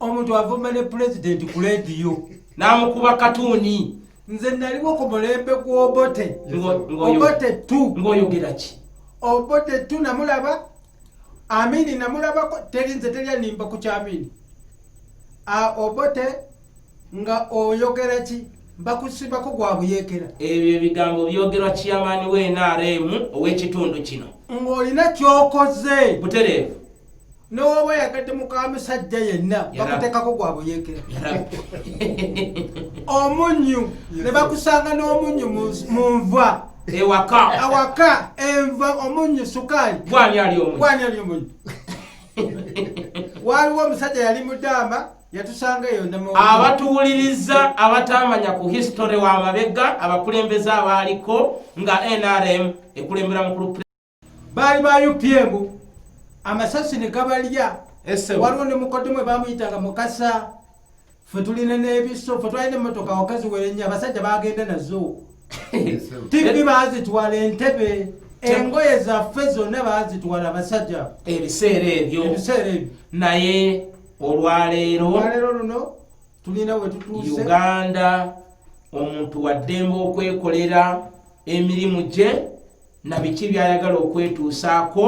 omuntu avumba ne pulezidenti ku leediyo n'amukuba katuuni nze naliwo ku mulembe gw'obote obote tu ng'oyogera ki obote tu namulaba amini namulabako teri nze teri animba ku kyamini obote nga oyogera ki bakusibako gwa buyekera ebyo ebigambo byogerwa kiyamaani w'enrm ow'ekitundu kino ng'olina kyokoze butereevu nowoba yagadde mukamusajja yenna bakutekako gwabuyekera omunyu nebakusanga n'omunyu munva ewaka awaka enva omunyu sukaali gwani ali omunyu waliwo omusajja yali mudamba yatusanga eyo abatuwuliriza abatamanya ku history wa mabega abakulembeze abaaliko nga nrm ekulembera mukulu baali ba upm amasasi ne gabalya waliwo ne mukodemu ebamuyitanga mukasa fe tulina n'ebiso fe twalina emmotoka wakazi werenya abasajja bagenda nazo tivi bazitwala entebe engoye zaffe zonna bazitwala abasajja ebiseera ebyo ebiseera ebyo naye olwaleero olwaleero luno tulina wetutuuse uganda omuntu waddemba okwekolera emirimu gye na biki byayagala okwetuusaako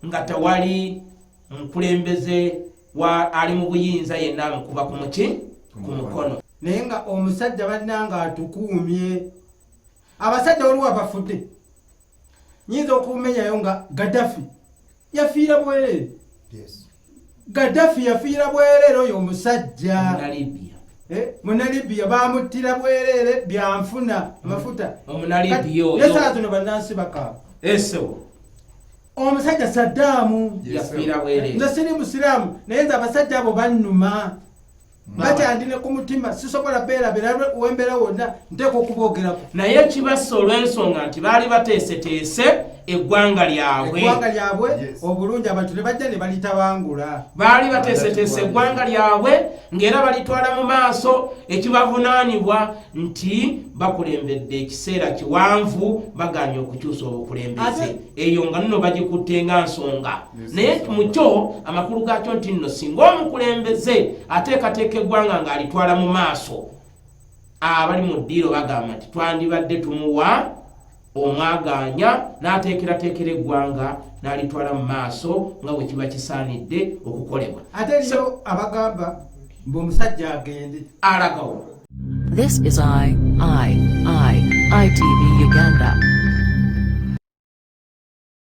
nga tewali mukulembeze wa ali mu buyinza yenna amukuba ku muki ku mukono naye nga omusajja bannanga atukuumye abasajja waliwo abafudde nyinza okumenyayo nga gadafi yafiira bwereere Gaddafi yafiira bwereere oyo omusajja munalibiya eh, bamuttira bwereere byanfuna amafuta nesaa zino bannansi bakaaba omusajja saddaamu nze siri musiraamu naye nze abasajja abo bannuma bakyandi ne ku mutima sisobola beera berabe wembeera wonna nteeka okuboogerako naye kibassa olw'ensonga nti baali bateeseteese eggwanga lyabwe eggwanga lyabwe obulungi abantu ne bajja ne balitabangula baali bateeseteese eggwanga lyabwe ng'era balitwala mu maaso ekibavunaanibwa nti bakulembedde ekiseera kiwanvu bagaanye okukyusa obukulembeze eyo nga nno bagikutte nga nsonga naye mu kyo amakulu gaakyo nti nno singa omukulembeze ateekateeka eggwanga ng'alitwala mu maaso abali mu ddiiro bagamba nti twandibadde tumuwa omwagaanya n'ateekerateekera eggwanga n'alitwala mu maaso nga bwe kiba kisaanidde okukolebwa ate yo abagamba mbu omusajja agende alagawo This is I, I, I, ITV Uganda.